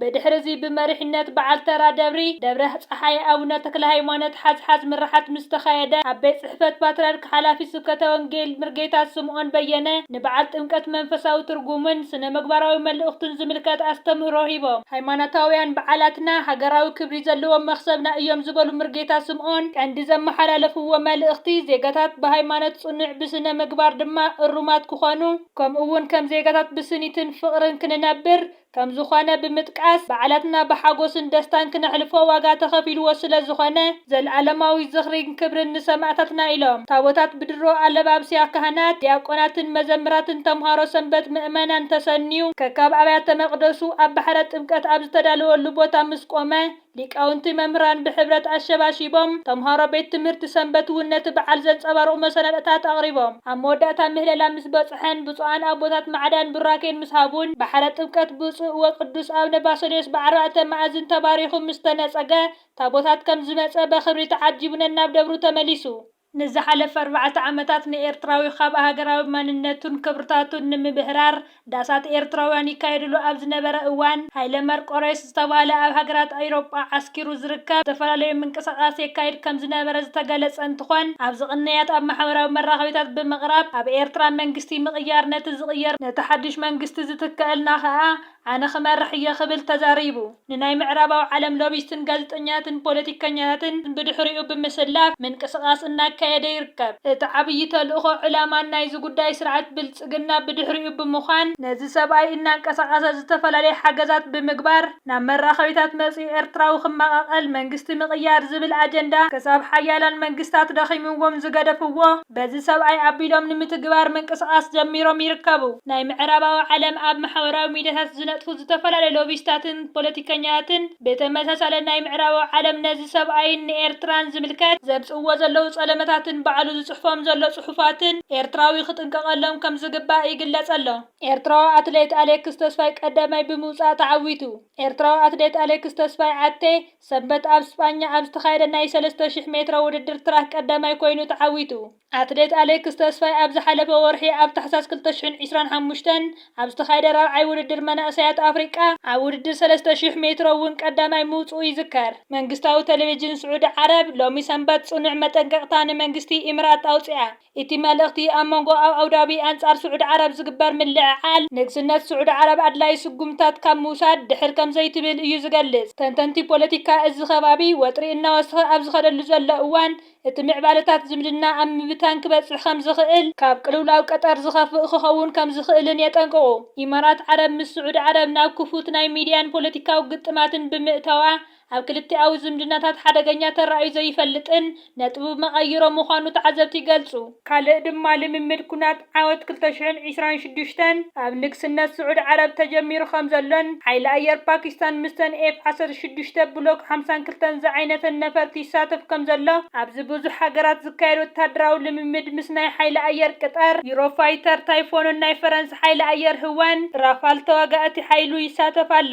ብድሕሪ'ዚ ብመሪሕነት በዓል ተራ ደብሪ ደብረ ጸሓይ ኣቡነ ተክለሃይማኖት ሓዝሓዝ ምርሓት ምስ ተኻየደ፣ ኣብ ቤት ጽሕፈት ፓትርያርክ ሓላፊ ስብከተ ወንጌል ምርጌታ ስምኦን በየነ ንበዓል ጥምቀት መንፈሳዊ ትርጉሙን ስነ ምግባራዊ መልእኽቱን ዝምልከት ኣስተምህሮ ሂቦም። ሃይማኖታውያን በዓላትና ሃገራዊ ክብሪ ዘለዎም መኽሰብና እዮም ዝበሉ ምርጌታ ስምኦን፣ ቀንዲ ዘመሓላለፍዎ መልእኽቲ ዜጋታት ብሃይማኖት ጽኑዕ ብስነ ምግባር ድማ እሩማት ክኾኑ ከምኡ'ውን ከም ዜጋታት ብስኒትን ፍቕርን ክንነብር ከምዝኾነ ብምጥቃስ፣ በዓላትና ብሓጎስን ደስታን ክነሕልፎ ዋጋ ተኸፊልዎ ስለዝኾነ ዘልኣለማዊ ዝኽሪን ክብርን ንሰማእታትና ኢሎም ታቦታት ብድሮ ኣለባብስያ ካህናት፣ ዲያቆናትን መዘምራትን ተምሃሮ ሰንበት ምእመናን ተሰንዩ ከካብ ኣብያተ መቅደሱ ኣብ ባሕረ ጥምቀት ኣብ ዝተዳለወሉ ቦታ ምስ ቆመ፣ ሊቃውንቲ መምህራን ብሕብረት ኣሸባሺቦም፣ ተምሃሮ ቤት ትምህርቲ ሰንበት እውን ነቲ በዓል ዘንጸባርቑ መሰናድእታት ኣቕሪቦም። ኣብ መወዳእታ ምህለላ ምስ በጽሐን ብፁዓን ኣቦታት ማዕዳን ቡራኬን ምስ ሃቡን ባሕረ ጥምቀት ብፁዕ ወቅዱስ ኣቡነ ባሰልዮስ ብዓርባዕተ መኣዝን ተባሪኹ ምስ ተነጸገ ታቦታት ከም ዝመጸ በኽብሪ ተዓጂቡ ነናብ ደብሩ ተመሊሱ። ንዝሓለፈ ኣርባዕተ ዓመታት ንኤርትራዊ ካብ ሃገራዊ ማንነቱን ክብርታቱን ንምብህራር ዳሳት ኤርትራውያን ይካየድሉ ኣብ ዝነበረ እዋን፣ ሃይለ መርቆሬዎስ ዝተባህለ ኣብ ሃገራት ኣዩሮጳ ዓስኪሩ ዝርከብ ዝተፈላለዩ ምንቅሳቓስ የካይድ ከም ዝነበረ ዝተገለጸ እንትኾን ኣብዚ ቅንያት ኣብ ማሕበራዊ መራኸቢታት ብምቕራብ ኣብ ኤርትራ መንግስቲ ምቕያር ነቲ ዝቕየር ነቲ ሓዱሽ መንግስቲ ዝትከኣልና ከኣ ኣነ ክመርሕ እየ ክብል ተዛሪቡ። ንናይ ምዕራባዊ ዓለም ሎቢስትን ጋዜጠኛትን ፖለቲከኛታትን ብድሕሪኡ ብምስላፍ ምንቅስቓስ እናካየደ ይርከብ። እቲ ዓብዪ ተልእኾ ዕላማን ናይዚ ጉዳይ ስርዓት ብልፅግና ብድሕሪኡ ብምዃን ነዚ ሰብኣይ እናንቀሳቐሰ ዝተፈላለየ ሓገዛት ብምግባር ናብ መራኸቢታት መፂኡ ኤርትራዊ ክመቓቐል መንግስቲ ምቕያር ዝብል ኣጀንዳ ክሳብ ሓያላን መንግስታት ደኺምዎም ዝገደፍዎ በዚ ሰብኣይ ኣቢሎም ንምትግባር ምንቅስቓስ ጀሚሮም ይርከቡ። ናይ ምዕራባዊ ዓለም ኣብ ማሕበራዊ ሚድያታት ዝነጥፉ ዝተፈላለዩ ሎቢስታትን ፖለቲከኛታትን ብተመሳሳሊ ናይ ምዕራባዊ ዓለም ነዚ ሰብኣይን ንኤርትራን ዝምልከት ዘምጽእዎ ዘለዉ ጸለመታትን ባዕሉ ዝጽሕፎም ዘሎ ጽሑፋትን ኤርትራዊ ክጥንቀቐሎም ከም ዝግባእ ይግለጽ ኣሎ። ኤርትራዊ ኣትሌት ኣሌክስ ተስፋይ ቀዳማይ ብምውጻእ ተዓዊቱ። ኤርትራዊ ኣትሌት ኣሌክስ ተስፋይ፣ ኣቴ፣ ሰንበት ኣብ ስጳኛ ኣብ ዝተኻየደ ናይ ሰለስተ ሽሕ ሜትሮ ውድድር ትራክ ቀዳማይ ኮይኑ ተዓዊቱ። ኣትሌት ኣሌክስ ተስፋይ ኣብ ዝሓለፈ ወርሒ ኣብ ታሕሳስ ክልተ ሽሕን ዕስራን ሓሙሽተን ኣብ ዝተኻየደ ራብዓይ ውድድር መናእሰያት ኣፍሪቃ ኣብ ውድድር ሰለስተ ሽሕ ሜትሮ እውን ቀዳማይ ምውጽኡ ይዝከር። መንግስታዊ ተለቪዥን ስዑዲ ዓረብ ሎሚ ሰንበት ጽኑዕ መጠንቀቕታ ንመንግስቲ ኢምራት ኣውጽኣ። እቲ መልእኽቲ ኣብ መንጎ ኣብ ኣቡዳቢ ኣንጻር ስዑዲ ዓረብ ዝግበር ምልዕዓል ንግስነት ስዑዲ ዓረብ ኣድላዪ ስጉምትታት ካብ ምውሳድ ድሕር ከም ዘይትብል እዩ ዝገልጽ። ተንተንቲ ፖለቲካ እዚ ከባቢ ወጥሪ እናወስኸ ኣብ ዝኸደሉ ዘሎ እዋን እቲ ምዕባለታት ዝምድና ኣብ ምብታን ክበጽሕ ከም ዝኽእል፣ ካብ ቅልውላው ቀጠር ዝኸፍእ ክኸውን ከም ዝኽእልን የጠንቅቑ። ኢማራት ዓረብ ምስ ስዑዲ ዓረብ ናብ ክፉት ናይ ሚድያን ፖለቲካዊ ግጥማትን ብምእታዋ ኣብ ክልቲኣዊ ዝምድናታት ሓደገኛ ተራእዩ ዘይፈልጥን ነጥቡ መቐይሮ ምዃኑ ተዓዘብቲ ይገልጹ። ካልእ ድማ ልምምድ ኵናት ዓወት ክልተ ሽሕን ዒስራን ሽዱሽተን ኣብ ንግስነት ስዑድ ዓረብ ተጀሚሩ ከም ዘሎን ሓይሊ ኣየር ፓኪስታን ምስተን ኤፍ ዓሰርተ ሽዱሽተ ብሎክ ሓምሳን ክልተን ዝዓይነተን ነፈርቲ ይሳተፍ ከም ዘሎ ኣብዚ ብዙሕ ሃገራት ዝካየድ ወተሃደራዊ ልምምድ ምስ ናይ ሓይሊ ኣየር ቅጠር፣ ዩሮፋይተር፣ ታይፎንን ናይ ፈረንሳ ሓይሊ ኣየር ህወን፣ ራፋል ተዋጋእቲ ሓይሉ፣ ይሳተፍ ኣሎ።